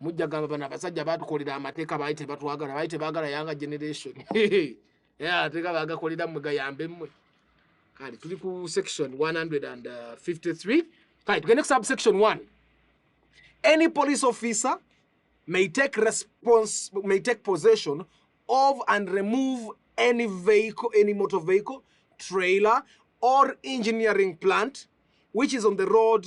mujja gamba bano abasajja batukolera amateeka baali tebatwagala baali tebagala yanga generation ateeka bagakolera mwe gayambe mmwe kale tuli ku section 153 kale tugende ku subsection 1 any police officer may take response may take possession of and remove any vehicle any motor vehicle trailer or engineering plant which is on the road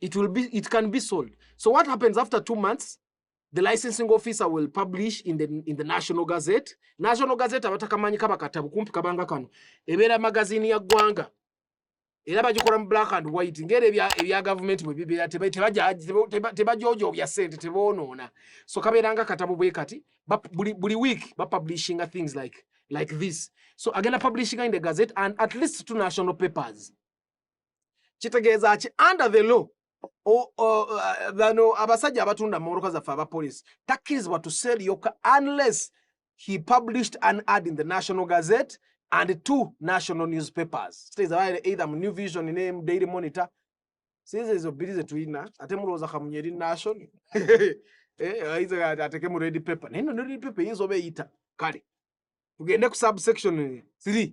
it will be it can be sold so what happens after two months the licensing officer will publish in the, in the national gazette national gazette abatakamanyi kaba katabu kumpi kabanga kano ebeera magazini ya ggwanga era bagikola mu black and white ngeri ebya ebya government bwe bibeera tebaja tebajojo bya sente tebonoona so kabeeranga katabu bwe kati buli buli week ba publishing things like like this so agenda publishing in the gazette and at least two national papers kitegeeza ki under the law bano uh, abasajja abatunda mumoroka zaffe aba police takkirizibwa to sell yoka unless he published an ad in the national gazette and two national newspapers kitegeeza either mu new vision ne daily monitor sinze ezo bbiri zetulina ate mulowooza kamunye eri nation eh, ateke mu red paper naye no red paper eyinza oba eyita kale tugende ku subsection 3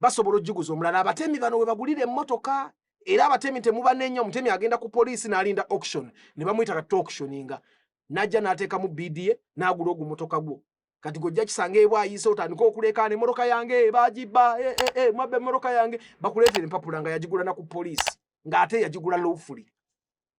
basobola ojiguza omulala abatemi bano webagulira emotoka era abatemi temubanenya omutemi agenda ku poliisi nalinda auction nebamuyita kati auctioninga najja natekamu bda nagula ogu motoka gwo kati gojja kisanga ebwa ayise otandika okulekaana emotoka yange eh, bagiba eh, eh, mwabba emotoka yange bakuleetera empapula nga yagigula na ku poliisi ng'ate yagigula lowfully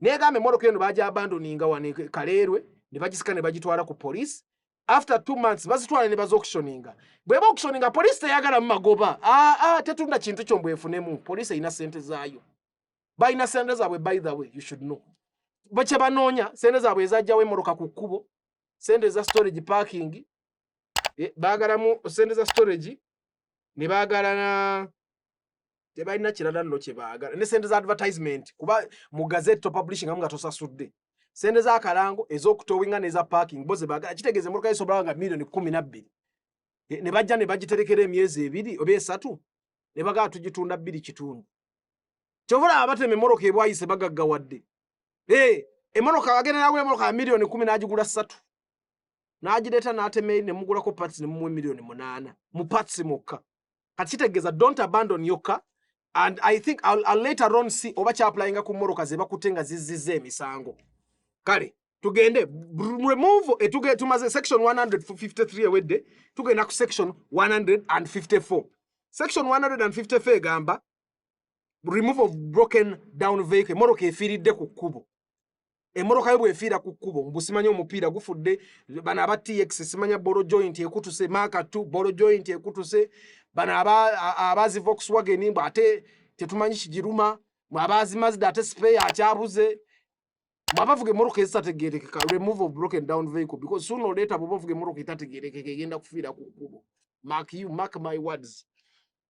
negamba emotoka eno baja abandoninga wano e kaleerwe ne bagisika ne bagitwala ku police after two months bazitwala ne baza auctioninga bweba auctioninga police teyagala mumagoba aa ah, ah, tetunda kintu kyo mbwefunemu police erina sente zaayo balina sente zaabwe by the way you should know bakye banoonya sente zaabwe ezajjawo emoroka ku kkubo sente za storage parking e, baagalamu sente za storage ne baagala na tebalina kirala nno kye baagala ne sente za advertisement kuba mu gazette to publishing amu nga tosasudde sente za kalango ez'okutowinga n'eza parking bo ze baagala kitegeeza emmotoka zisobola nga milioni kumi na bbiri ne bajja ne bagiterekera emyezi ebiri oba esatu ne bagala tugitunda bbiri kitundu kyova olaba batema emmoloka ebwayise bagaggawadde ee emmoloka agenda nagula emmoloka ya milioni kumi n'agigula ssatu n'agireeta n'atema eri ne mugulako pats ne mumuwa emilioni munaana mu pats mukka kati kitegeeza don't abandon your car and i think I'll, I'll later on see oba kyapulayinga ku moroka zebakute nga zizizza emisango kale tugende remove etuge eh, tumaze section 153 ewedde tugenda ku section 154 section 154 egamba remove of broken down vehicle moroka efiiridde ku kkubo emotoka yo bwefiira ku kkubo mbu simanyi omupiira gufudde bano aba tx simanya bolo joint ekutuse maka t bolo joint ekutuse bano abazi voxwagen mbu ate tetumanyi kigiruma abazi mazda ate speya akyabuze mwabavuga emotoka ezitategerekeka remove of broken down vehicle because sooner or later bwoba ovuga emotoka etategerekeka egenda kufiira ku kkubo mark you mark my words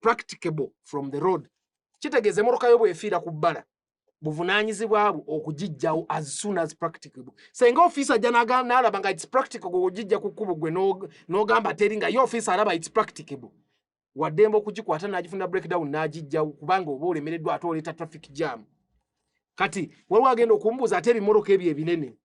practicable from the road kitegeeza emotoka yo bwefiira ku bbala buvunanyizibwa bwo okugijjawo as soon as practicable senga ofiisa ajja nalaba nga its practicable ogijja ku kkubo gwe n'ogamba teri nga ye ofiisa alaba its practicable waddemba okugikwata n'agifuna breakdown n'agijjawo kubanga oba olemereddwa ate oleeta traffic jam kati waliwo agenda okumbuuza ate ebimoroka ebyo ebinene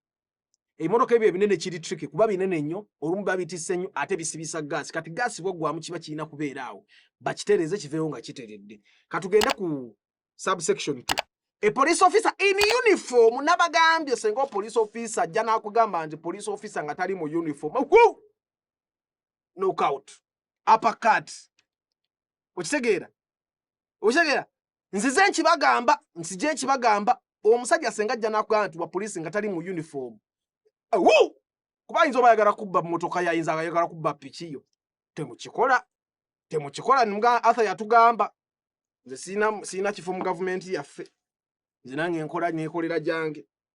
ebimotoka ebyo ebinene kiri tricky kuba binene nnyo olumu babitisse nnyo ate bisibisa gaasi kati gaasi bwaggwamu kiba kirina kubeera awo bakitereeze kiveewo nga kiteredde katugende ku subsection t a police officer in uniform nabagambye senga police officer ajja nakugamba nti police officer nga tali mu uniform nokout apakat okitegeera okitegeera nzize nkibagamba nsije nkibagamba omusajja senga ajja nakugamba nti wa poliisi nga tali mu uniform Awoo! kuba ayinza oba ayagala kubba mmotoka yayinza ayagala kubba piki yo temukikola temukikola nga arthur yatugamba nze sirina sirina kifo mu gavumenti yaffe nze nange nkola nekolera gyange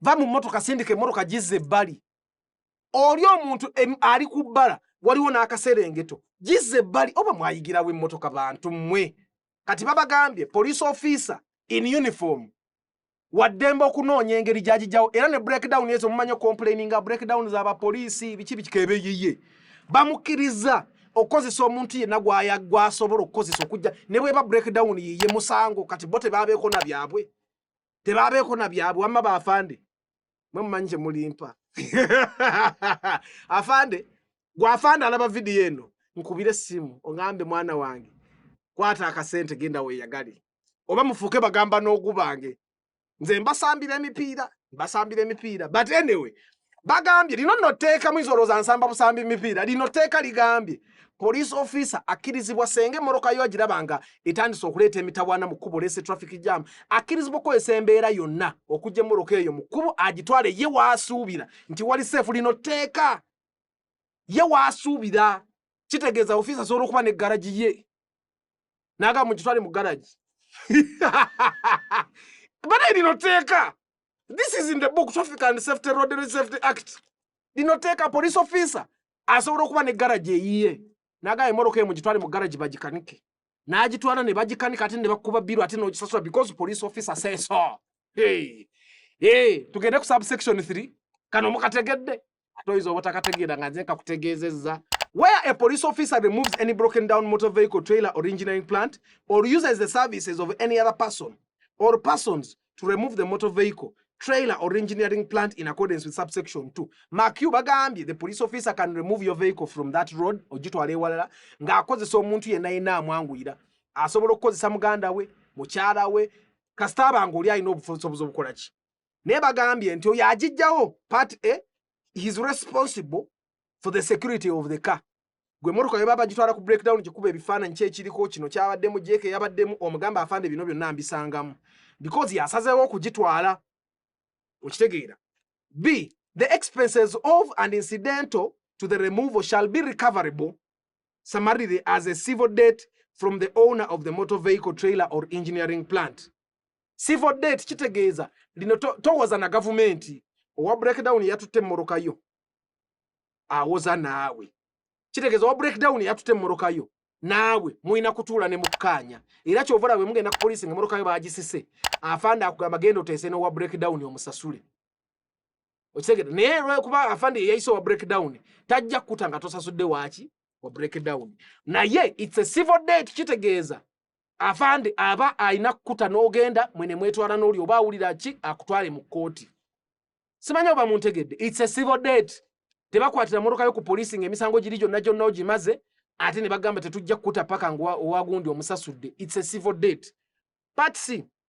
va mu mmotoka sindika emmotoka gizza ebbali oli omuntu ali ku bbala waliwo n'akaserengeto gizza ebbali oba mwayigirawo emmotoka bantu mmwe kati babagambye police officer in uniform waddembe okunoonya engeri gyagijjawo era ne breakdown ezo mumanyi okomplaininga breakdown z'abapoliisi biki bikikebeyeye bamukkiriza okukozesa omuntu yenna gwaya gwasobola okukozesa okujja ne bweba breakdown yiye musango kati bo tebabeeko na byabwe tebabeeko na byabwe wamma baafande mwe mumanyi kye mulimpa afande gwafande alaba vidiyo eno nkubire essimu oŋambe mwana wange kwata akasente genda weyagali oba mufuuke bagamba n'ogubange nze mbasambira emipiira mbasambira emipiira but anyway bagambye lino nno tteeka muyinza olowooza nsamba busambi mipiira lino tteeka ligambye police officer akkirizibwa senga emmoloka yo agiraba nga etandise okuleeta emitawaana mu kkubo leese traffic jam akkirizibwa okukozesa embeera yonna okujja emmoloka eyo mu kkubo agitwale ye waasuubira nti wali seefu lino tteeka ye waasuubira kitegeeza ofiisa asobola okuba ne garagi ye naga mugitwale mu garage bana lino teeka this is in the book traffic and safety road and safety act lino teeka police officer asobola okuba ne garage eyiye naga emoroka emu gitwale mu garage bagikanike nagitwala ne bagikanika ate ne bakuba biru ate nogisasula because police officer say so hey. Hey, tugende ku subsection 3 kano mukategedde ate oyinza obutakategeera nga nze nkakutegeezezza where a police officer removes any broken down motor vehicle trailer or engineering plant or uses the services of any other person or persons to remove the motor vehicle trailer or engineering plant in accordance with subsection 2 makiu bagambye the police officer can remove your vehicle from that road ogitwala ewalala ng'akozesa omuntu yenna yenna amwanguyira asobola okukozesa muganda we mukyala we kasita abanga oli alina obusobozi obukola ki naye bagambye nti oyo agijjawo part a his responsible for the security of the car gwe motoka yeba bagitwala ku breakdown gikuba ebifaananyi kyekiriko kino kyabaddemu jeeke yabaddemu omugamba afande bino byonna mbisangamu because yasazeewo okugitwala okitegeera b the expenses of and incidental to the removal shall be recoverable summarily as a civil debt from the owner of the motor vehicle trailer or engineering plant civil date kitegeeza lino towoza na gavumenti owa breakdown yatutte emmoroka yo awoza naawe kitegeeza owa breakdown yatutte emmoroka yo naawe mulina kutuula ne mukkaanya era kyova olaba mugenda ku poliisi nga emmoroka yo bagisise afande akugamba genda oteese n'owa breakdown omusasule okitegere naye lwekuba afande yeyayise owa breakdown tajja kukuta nga tosasudde waaki wa breakdown naye its a civil date kitegeeza afande aba alina kukuta n'ogenda mwene mwetwala n'oli oba awulira ki akutwale mu kkooti simanyi oba muntegedde its a civil date tebakwatira motoka yo ku poliisi ng'emisango giri gyonna gyonna ogimaze ate ne bagamba tetujja kukuta paka nga owagundi omusasudde its a civil date patsi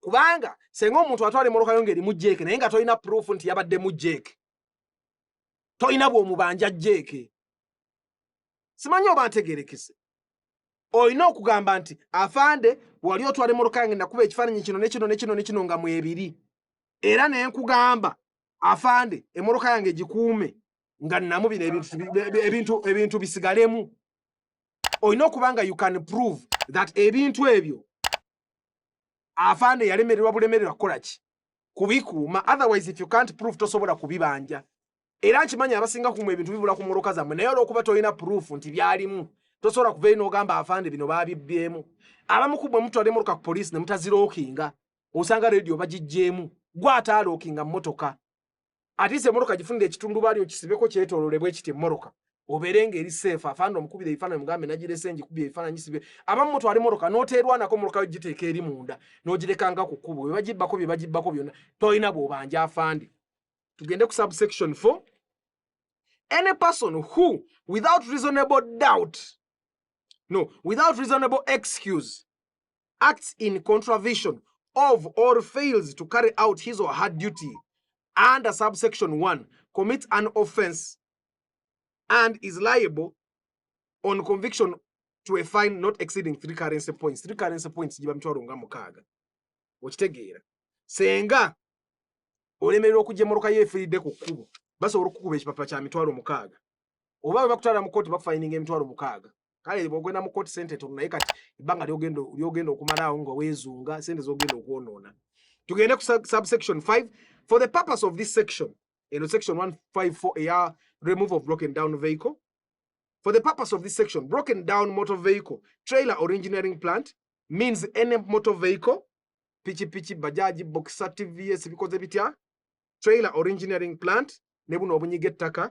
kubanga senga omuntu atwala emoloka yo ng'erimu jeeke naye nga tolina proof nti yabaddemu jeeke tolina bw'omubanja jeeke simanyi oba ntegerekese olina okugamba nti afande wali otwala emoloka yange nakuba ekifaananyi kino nekino nekino nekino nga mwebiri era ne nkugamba afande emoloka yange gikuume nga namu bino ebintu bisigalemu olina okuba nga you can prove that ebintu ebyo afande yalemererwa bulemererwa kukola ki kubikuuma otherwise if you can't prove tosobola kubibanja era nkimanyi abasinga kumwe ebintu bibula ku mmotoka zammwe naye olwokuba tolina proof nti byalimu tosobola kuvayo n'ogamba afande bino baabibbyemu abamu ku bwe mutwala emmotoka ku poliisi ne mutazirookinga osanga rediyo bagijjeemu gwataalookinga mmotoka atiisa emmotoka gifunira ekitundubaali okisibeko kyetoolole bwe kiti emmotoka obeere ng'eri seefu afanda omukubira ebifaananyi mugambe nagirese ngikubye ebifaananyi sibe abamu mutwala emmotoka n'oteerwanako mmotoka yo giteeka eri munda n'ogirekanga ku kkubo bye bagibbako bye bagibbako byonna tolina bw'obanja afande tugende ku subsection four any person who without reasonable doubt no without reasonable excuse acts in contravention of or fails to carry out his or her duty under subsection 1 commits an offense and is liable on conviction to a fine not exceeding three currency points three currency points giba mitwalo nga mukaaga okitegeera senga olemererwa okujja emmotoka ye efiiridde ku kkubo basobola okukuba ekipapula kya mitwalo mukaaga oba bwe bakutwala mu kooti bakufayininga emitwalo mukaaga kale bwogenda mu kkooti sente tono naye kati ebbanga lyogenda lyogenda okumalaawo nga weezunga sente zogenda okwonoona tugende ku subsection 5 for the purpose of this section eno section 154 eya remove of broken down vehicle for the purpose of this section broken down motor vehicle trailer or engineering plant means any motor vehicle pichi pichi bajaji boxer tvs bikoze bitya trailer or engineering plant ne buno obunyige ettaka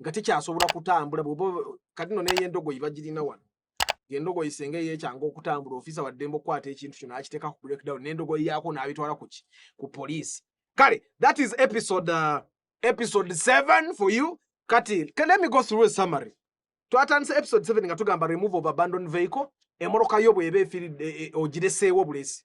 nga tekyasobola kutambula bwoba kati no neye endogoyi bagirina wano endogoyi senga eyekyanga okutambula ofisa waddembe okukwata ekintu kino akiteeka ku breakdown n'endogoyi yaako n'abitwala kuki ku poliisi kale that is episode uh, episode 7 for you kati let me go through a summary twatandise episode 7 nga tugamba remove of abandoned vehicle emoloka yo bweba efiridde e, e, ogireseewo bulesi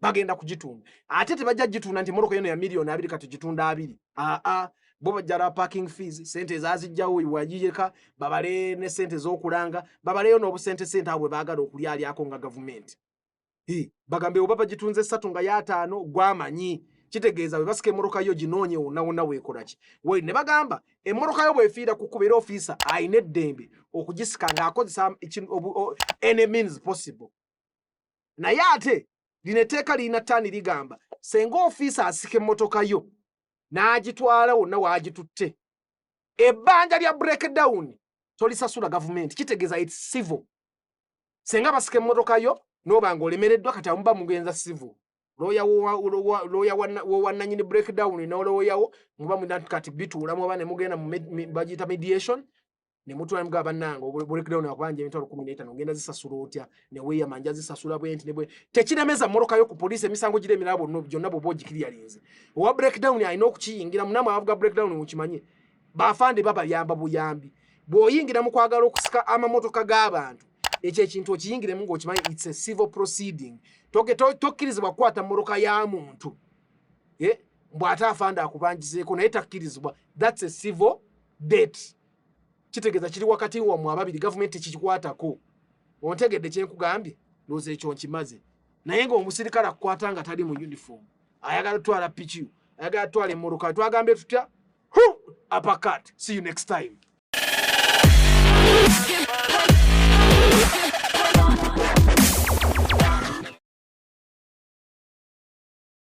bagenda kugitunda ate tebajja gitunda nti moroka yono ya miliyoni abiri kati gitunda abiri aa bo bajjala parking fees sente ezazijjawo wajiyeka babale ne sente zokulanga babaleyo n'obusente sente abwe bagala okulyalyako nga gavumenti bagambe oba bagitunze satu nga yataano gwamanyi kitegeeza bwe basika emmotoka yo ginoonye wonna wonna weekolaki wali ne bagamba emmotoka yo bwefiira ku kubeera ofiisa alina eddembe okugisika ng'akozesa any means possible naye ate lino etteeka lirina taani ligamba senga ofiisa asika emmotoka yo n'agitwala wonna waagitutte ebbanja lya breakdown tolisasula gavumenti kitegeeza it civil senga basika emmotoka yo n'oba nga olemereddwa kati amuba mugenza civil looya wowannanyini breakdown n'olooyawo muba muna kati bituulamu oba ne mugenda bagiyita mediation ne mutwala mga banange obule break down akubanje emitwalo 15 ngenda zisasula otya ne weya manja zisasula bwenti ne bwe tekiremeza moroka yo ku police emisango gire mirabo no byonna bo boji kiri yalinze owa break down ayina okukiyingira munama avuga break down mukimanye bafande baba yamba buyambi bwoyingira mu kwagala okusika amamotoka g'abantu ekyo ekintu okiyingiremu ng'okimanyi its a civil proceeding tokkirizibwa kukwata mmotoka ya muntu mbw'ate afanda akubanjizeeko naye takkirizibwa thats a civil date kitegeza kiri wakati wa mu ababiri government kikikwatako ontegedde kyenkugambye loze ekyo nkimaze naye nga omusirikale akukwata nga tali mu uniform ayagala twala pikiu ayagala twala emoroka twagambye tutya hu apakat see you next time